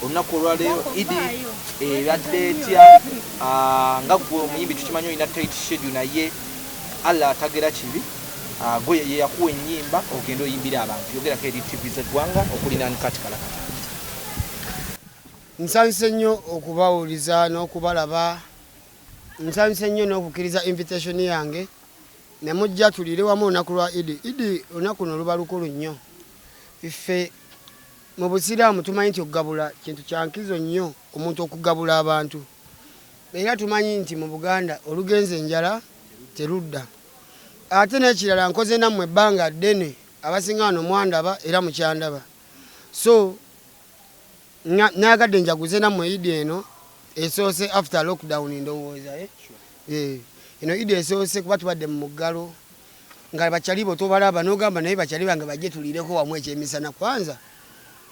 olunaku olwaleero idi ebadde eh, etya ah, nga gwe omuyimbi tukimanyi olina tit shedu naye allah atagera kibi ah, gwe yeyakuwa enyimba ogenda oyimbira abantu yogerako eri tv zegwanga okulinanukati kalakata nsanyuse nnyo okubawuliza n'okubalaba nsanyuse nnyo n'okukkiriza invitation yange ne mujja tuliire wamu olunaku lwa idi idi olunaku no luba lukulu nnyo ffe mu busiraamu tumanyi nti okugabula kintu kyankizo nnyo omuntu okugabula abantu era tumanyi nti mu buganda olugenza enjala terudda ate n'ekirala nkoze nammwe ebbanga ddene abasinga wano mwandaba era mukyandaba so Nayagadde njaguze nammwe Idi eno esoose after lockdown ndowooza eh? Eh, eno Idi esoose kuba tubadde mu muggalo nga bakyali bo tobalaba n'ogamba naye bakyali bange bajje tuliireko wamu ekyemisana kwanza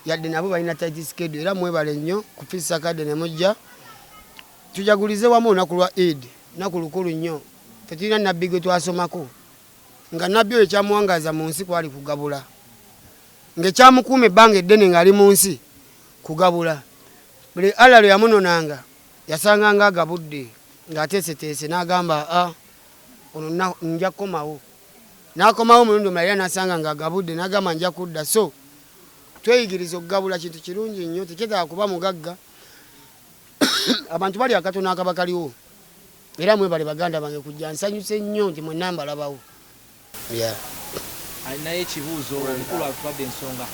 yadde nabo balina tight schedule era mwebale nnyo ku Peace Arcade ne mujja tujagulize wamu olunaku lwa Eid naku lukulu nnyo tetulina nabbi gwe twasomako nga nabbi oyo kyamuwangaaza mu nsi kwali kugabula ng'ekyamukuuma ebbanga eddene ng'ali mu nsi kugabula. Buli Allah lwe yamunonanga yasanganga agabudde ng'ateeseteese n'agamba a ono nja kukomawo. N'akomawo omulundi omulala era n'asanga ng'agabudde n'agamba nja kudda. So tweyigiriza okugabula kintu kirungi nnyo tekyetaaga kuba mugagga abantu bali akatono akaba kaliwo era mwebale baganda bange kujja nsanyuse nnyo nti mwenna mbalabawo. Alinayo ekibuuzo? Omukulu atwade ensonga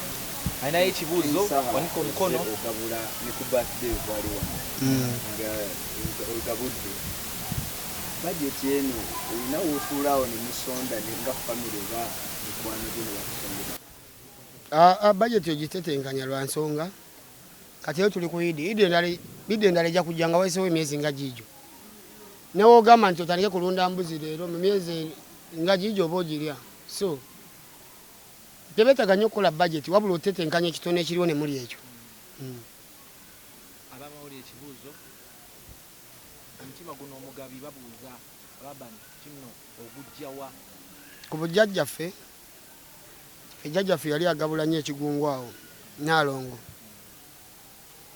alinayo ekibuuzo? Wanika omukono. Aa budget ogitetenkanya lwansonga Kati lero tuli ku idi, idi endala idi endala ejja kujja nga wayisewo emyezi nga giijo. Ne w'ogamba nti otandike kulunda mbuzi lero mu myezi nga giijo oba ogirya. So tebeetaga nnyo kukola bajeti wabula otetenkanya ekitono ekiriwo ne mulya ekyo. Abamawulire ekibuuzo omutima guno omugabi babuuza Laban kinno ogujja wa? Ku bujjajjaffe. Ffe jjajja ffe yali agabula nnyo ekigungu awo Nnaalongo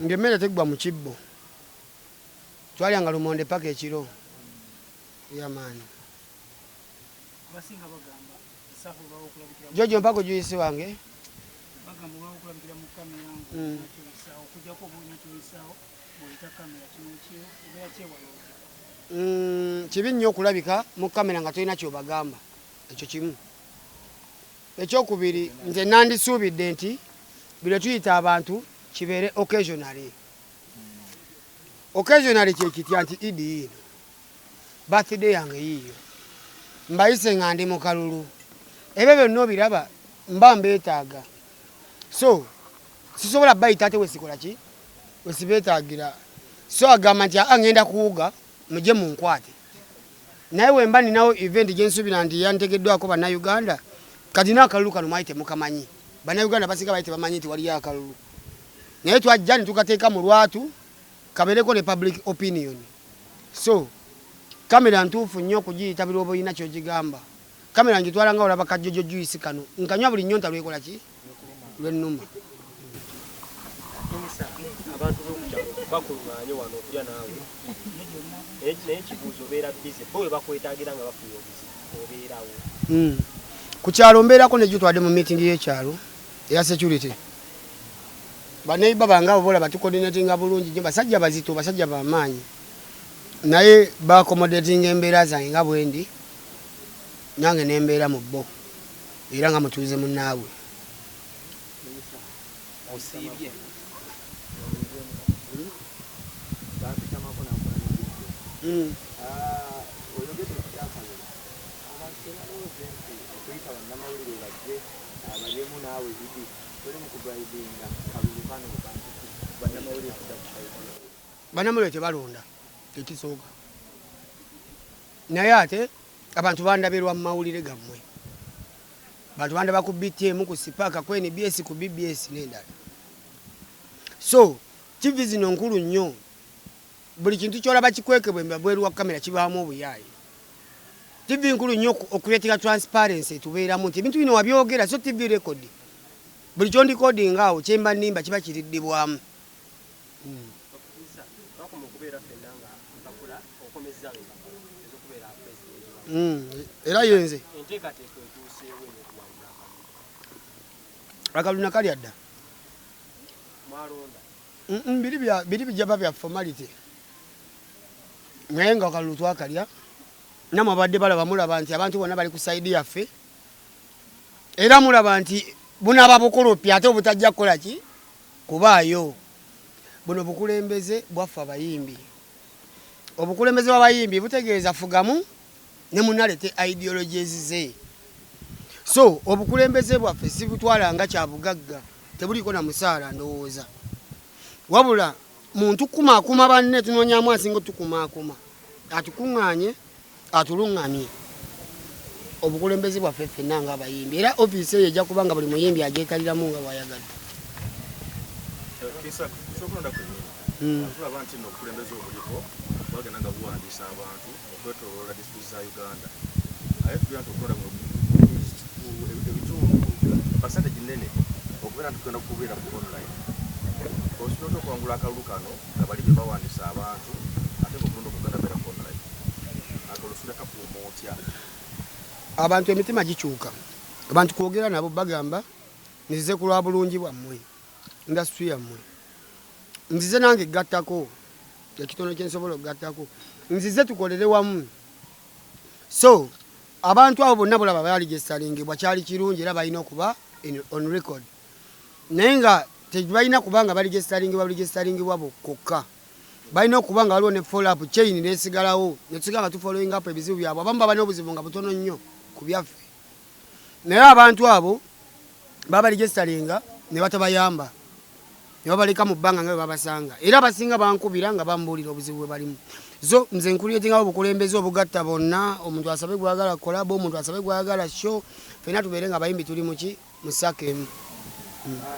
nga emmere teggwa mu kibbo. Twalyanga lumonde paka ekiro. Yeah man. Jojo mpako juisi wange. Mm. Mm, kibi nnyo okulabika mu kamera nga tolina kyobagamba Ekyo kimu. Ekyokubiri, nze nandisuubidde nti bino tuyita abantu kibeere occasionally. Occasionally kyekitya nti idi yiino, birthday yange yiiyo, mbayise nga ndi mu kalulu, ebyo byonna obiraba mba mbeetaaga, so sisobola bayita ate wesikola ki wesibeetaagira, so agamba nti aa ngenda kuwuga mujje munkwate naye wemba ninawo event gyensubira nti yantegeddwako bannayuganda kati no akalulu kano mwali temukamanyi bannayuganda basinga bali tebamanyi nti waliyo akalulu naye twajja ne tukateeka mu lwatu kabeereko ne public opinion so kamera ntuufu nnyo okugiyitabira oba olina kyogigamba Camera ngitwala nga olaba ka jojo juice kano nkanywa buli nyonta lwekola ki lwenuma. Abantu bokukyalo bakulunganye wano okulya naawe naye ekibuuzo obeera bize bo webakwetagira nga bafunye obuzibu obeerawo hmm. ku kyalo mbeerako nejjo twade mu meeting y'ekyalo eya security baneiba bange abo bolaba tukodinatinga bulungi nyo basajja bazito basajja bamaanyi naye baakomodatinga embeera zange nga bwendi nange ne mbeera mu bo era nga mutuuze munnaabwe. Bannamawulire tebalonda, ekisooka. Naye ate abantu bandabe lwa mawulire gammwe. Abantu bandaba ku BTM, ku Sipaka, ku NBS, ku BBS n'endala. So TV zino nkulu nnyo. Buli kintu ky'olaba kikwekebwa ebweru wa kamera kibaamu obuyaaye. TV nkulu nnyo okuleetera transparency etubeeramu nti ebintu bino wabyogera so TV record. Buli ky'ondikodinga awo kyemba nnimba kiba kiriddibwamu. era yenze akaluna kalya dda biri bijaba bya formality naye nga akalulu twakalya namwe abadde balaba mulaba nti abantu bona bali ku saidi yaffe era mulaba nti bunaba bukulupi ate obutajja kukola ki kubaayo. Buno bukulembeze bwaffe abayimbi. Obukulembeze bw'abayimbi butegeeza fugamu ne munno aleete ideologies ze. So obukulembeze bwaffe sibutwala nga kyabugagga, tebuliiko na musaala ndowooza wabula. muntu kumaakuma banne tunonyamu asinga otukumaakuma atukuŋŋaanye atuluŋŋamye obukulembeze bwaffe ffenna nga abayimbi era ofiisi eyo ejja kuba nga buli muyimbi agyekaliramu nga bwayagadde hmm. okwetoloola disitulikiti za Uganda aye tugenda tukola mu ebitundu pasanteji nene okubeera nti tugenda kubeera ku online osinota okwangula akalulu kano nga bali be bawandisa abantu ate ngaokulonda okuganda beera ku online ate olusinda kakuuma otya abantu emitima gikyuka abantu kwogera nabo bagamba nizize ku lwa bulungi bwammwe indasitri yammwe nzize nange gattako ekitono kyensobola okugattako nzize tukolere wamu so abantu abo bonna bulaba baaligesalingebwa kyali kirungi era balina okuba on record naye nga tebalina kuba nga baligesalingebwa baligesalingebwa bokkokka balina okuba nga waliwo ne follow-up chain nesigalawo netusiga nga tufollowing up ebizibu byabwe abamu baba n'obuzibu nga butono nnyo ku byaffe naye abantu abo babaligestalinga ne batabayamba ne babaleka mu bbanga nga bwe babasanga era abasinga bankubira nga bambuulira obuzibu bwe balimu zo nze nkuliyetingawo obukulembeze obugatta bonna omuntu asabe gwagala kolaba omuntu asabe gwagala sho fena tubeere nga abayimbi tuli muki musaka emu hmm. ah,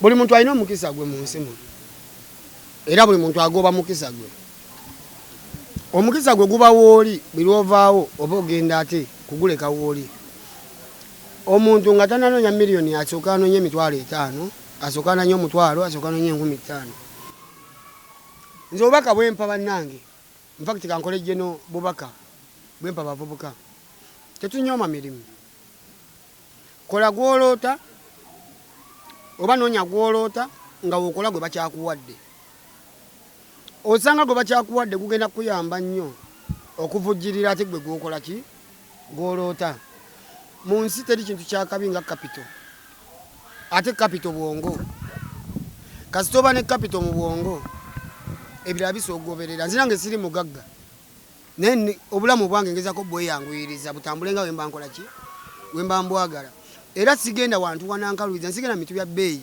buli muntu alina omukisa gwe mu nsi muno era buli muntu agoba mukisa gwe omukisa gwe guba wooli buli lwovaawo oba ogenda ate kuguleka wooli omuntu nga tananoonya miliyoni asooka anoonya emitwalo etaano asooka ananya omutwalo asooka anoonya enkumi ttaano nze obubaka bwempa bannange nfakiti kankole jeno bubaka bwempa bavubuka tetunyooma mirimu Kola gw'oloota oba noonya gw'oloota nga w'okola gwe bakyakuwadde. Osanga gwe bakyakuwadde gugenda kukuyamba nnyo okuvujjirira ate gwe gw'okola ki? Gw'oloota. Mu nsi teri kintu kya kabi nga kapito ate kapito bwongo. Kasita oba ne kapito mu bwongo ebirala bisoogoberera. Nze nange siri mugagga. naye obulamu obwange ngezako bweyanguyiriza butambule nga wemba nkola ki wemba mbwagala era sigenda wantu wanankaluiza nsigenda mitu bya bbeeyi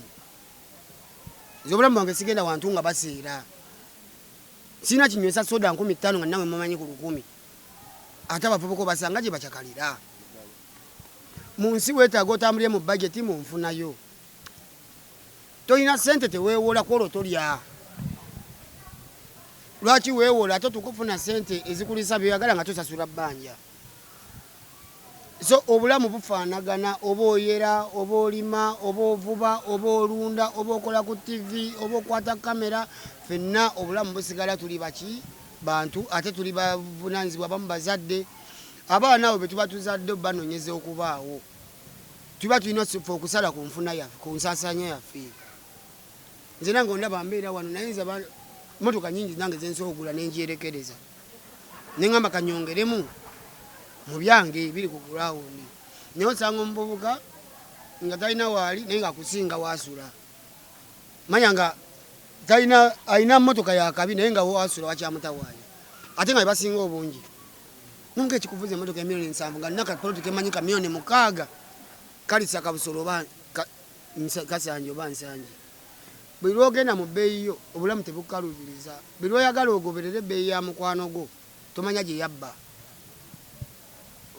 nze obulamu bwange sigenda wantu nga baseera sirina kinywesa soda nkumi ttaano nga nawe mumanyi ku lukumi ate abavubuka obasanga gye bacakalira mu nsi weetaaga otambulire mu bajeti mu nfunayo Tolina sente tewewola kwolwo tolya lwaki wewola ate otuuka okufuna sente ezikulisa byoyagala nga tosasula bbanja so obulamu bufaanagana oba oyera oba olima oba ovuba oba olunda oba okola ku tivi oba okwata kamera fenna obulamu busigala tuli baki bantu ate tuli bavunanyizibwa bamu bazadde abaana abo betuba tuzadde banonyeza okubaawo tuba tulina fe okusala ku nfuna yaffe ku nsaasaanya yaffe nze nange ondaba mbeera wano naye nze motoka nyingi nange zensobola okugula nenjerekereza neŋamba kanyongeremu mu byange biri ku gurawundi naye osanga omuvubuka nga talina waali naye ngaakusinga waasula manya nga talina alina motoka yakabi naye nga waasula wakyamutawaanya ate nga bebasinga obungi Nunka ekikuvuza emotoka ya milioni nsanvu nga nina ka poloti kemanyi ka milioni mukaaga kalisa kabusolo oba kasanje oba nsanje buli lwogenda mu bbeeyi yo obulamu tebukukalubiriza buli lwoyagala ogoberere ebbeeyi ya mukwano gwo tomanya gye yabba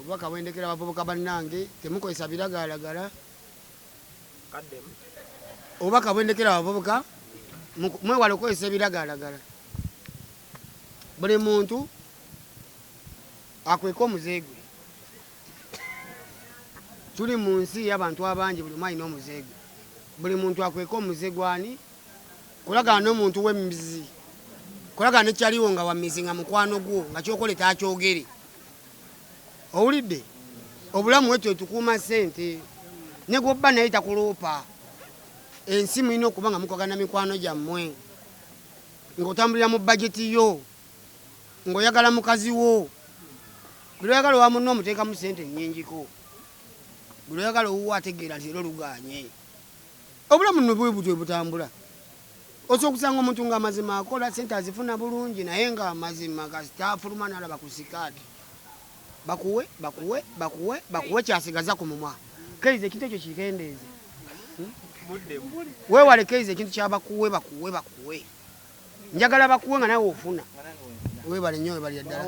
obubaka bwendekera abavubuka bannange temukozesa biragaalagala obubaka bwendekera abavubuka mwewala okukozesa ebiragaalagala Buli muntu akweka omuze gwe. Tuli mu nsi y'abantu abangi, buli omu alina omuze gwe. Buli muntu akweka omuze gwani? Kolagana n'omuntu w'emmizi, kolagana nekyaliwo nga wammizi nga mukwano gwo nga kyokole takyogere. Owulidde? Obulamu wetyo tukuuma ssente ne gwobba naye takuloopa. Ensi mulina okuba nga mukolagana mikwano gyammwe. Ng'otambulira mu bajeti yo, ng'oyagala mukazi wo, buli lw'oyagala owa munno omuteekamu ssente nnyingiko, buli lw'oyagala owuwo ategeera nti leero lugaanye. Obulamu nno bwe butyo bwe butambula. Osobola okusanga omuntu nga mazima akola, ssente azifuna bulungi naye nga mazima kasita afuluma n'alaba ku sikaati. bakuwe bakuwe bakuwe bakuwe kyasigaza ku mumwa keize ekintu ekyo kikendeeze wewale keize ekintu kyabakuwe bakuwe bakuwe njagala bakuwe nga nawe ofuna webale nyo webale ddala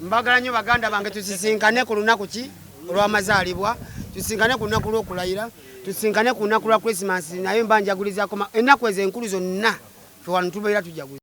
mbagala nyo baganda bange tusisinkane ku lunaku ki olwamazaalibwa tusisinkane ku lunaku lwokulayira tusisinkane ku lunaku lwa christmas naye mba njagulizako ennaku ezo enkulu zonna fe wano tubeera tujaguza